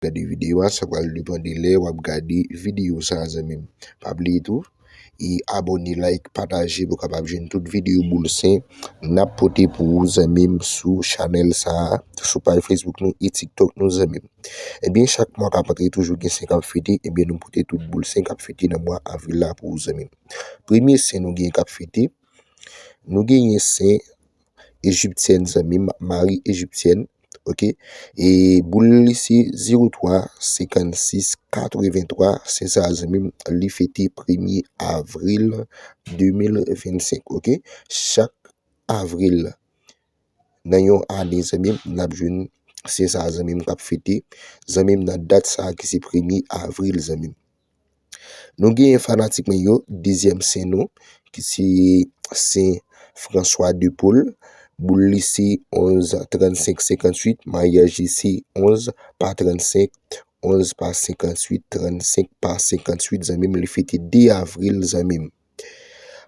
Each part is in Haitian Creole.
Gade video a sa pral depan de lè wap gade video sa zanmim pa bliye tou e abone like pataje pou kapab jwenn tout video boul sen nap pote pou ou zanmim sou chanèl sa sou paj facebook nou e tiktok nou zanmim ebyen chak mwa kap antre toujou gen sen kap fete ebyen nou pote tout boul sen kap fete nan mwa avril la pou ou zanmim premye sen nou gen kap fete nou genyen sen Egyptienne zanmim Marie Egyptienne ok e boul li se 03 56 83 se sa zanmim li fete premye avril 2025 ok chak avril nan yon ane zanmim nap jwenn se sa zanmim kap fete zanmim nan dat sa ki se premye avril zanmim. Nou genyen fanatik mwen yo, dezyèm sen nou, ki se sen François de Paul, boul li se 11, 35, 58, maryaj li se 11, pa 35, 11, pa 58, 35, pa 58, zanmi m li fete 2 avril zanmi m.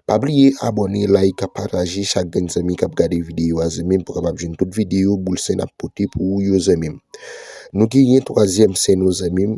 Pa bliye abone, like, pataje, chak grenn zanmi k ap gade videyo a zanmi m pou kapab jwenn tout videyo boul sen ap pote pou ou yo zanmi m. Nou genyen twazyèm sen nou zanmi m,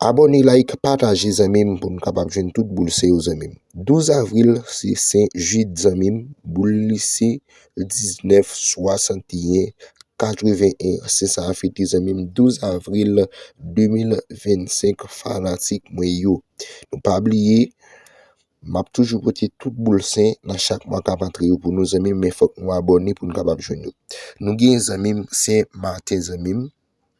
Abone like pataje zanmim pou nou kapab jwenn tout boul se yo zanmim 12 avril se sen jid zanmim boul li se 19 61 81 se sa a fete zanmim 12 avril 2025 fanatik mwen yo nou pa bliye map toujou pote tout boul sen nan chak mwa kap antre yo pou nou zanmim men fòk nou abone pou nou kapab jwenn yo nou gen zanmim sen maten zanmim.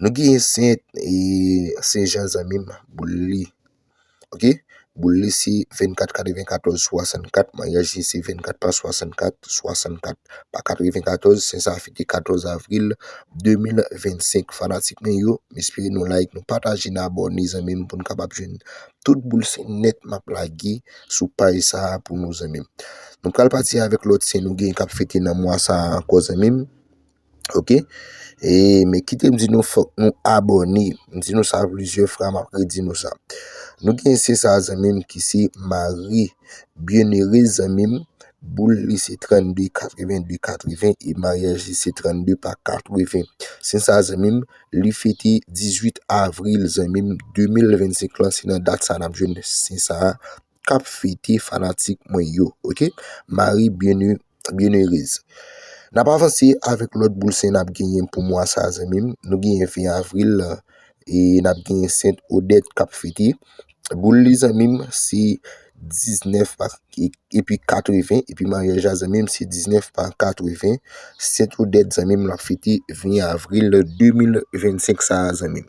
Nou gen Sen e Sen Jan zanmim boul li ok boul li se 24 94 64 maryaj li se 24 pa 64 64 pa 94 Sen sa fete 14 avril 2025 fanatik mwen yo m espere nou like nou pataje nou abòne zanmim poun kapab jwenn tout boul Sen nèt map lage sou paj sa pou nou zanmim nou pral pati avèk lòt Sen nou gen kap fete nan mwa sa ankò zanmim. Ok E men kite m di nou fòk nou abòne M di nou sa plizyè fra m ap redi nou sa Nou gen se sa zanmi m ki se Marie Bienerez zanmi m Boul li se 32 82 80 e maryaj li se 32 pa 80 Se sa zanmi m Li fete 18 avril zanmi m 2025 lan se nan dat sa n ap jwenn se sa a. kap fete fanatik mwen yo ok Marie Bienheureuse nap avanse avèk lòt boul sen nap genyen pou mwa sa zanmi m nou genyen 20 avril e nap genyen Saint Odette kap fete boul li zanmi m se 19 pa epi 80 epi maryaj la zanmi m se 19 pa 80 Saint Odette zanmi m lap fete 20 avril 2025 sa zanmi m.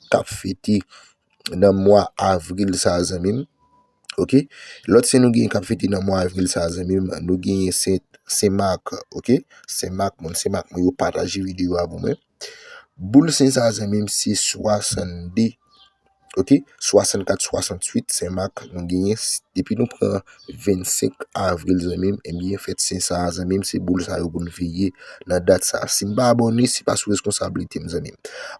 kap fete nan mwa avril sa zanmim ok lòt sen nou gen kap fete nan mwa avril sa zanmim nou gen sent sen mak ok sen mak moun sen mak mwen yo pataje videyo a pou mwen boul sen sa zanmim se 62 ok 64 68 sen mak nou gen depi nou pran 25 avril zanmim Ebyen fèt sen sa a zanmim se boul sa yo pou n veye nan dat sa a Si m pa abòne se pa sou reskonsablite m zanmim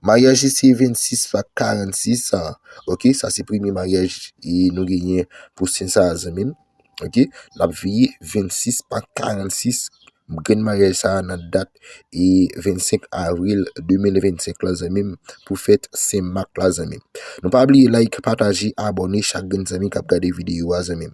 Maryaj li se 26 va 46 an ok Sa se premye maryaj e nou genyen pou sen sa a zanmim ok N ap veye 26 va 46 Grenn maryaj sa a nan dat e 25 avril 2025 la zanmi m pou fèt Sen Mak la zanmi m. Nou pa bliye like, pataje, abòne chak grenn zanmi k ap gade videyo a zanmi m.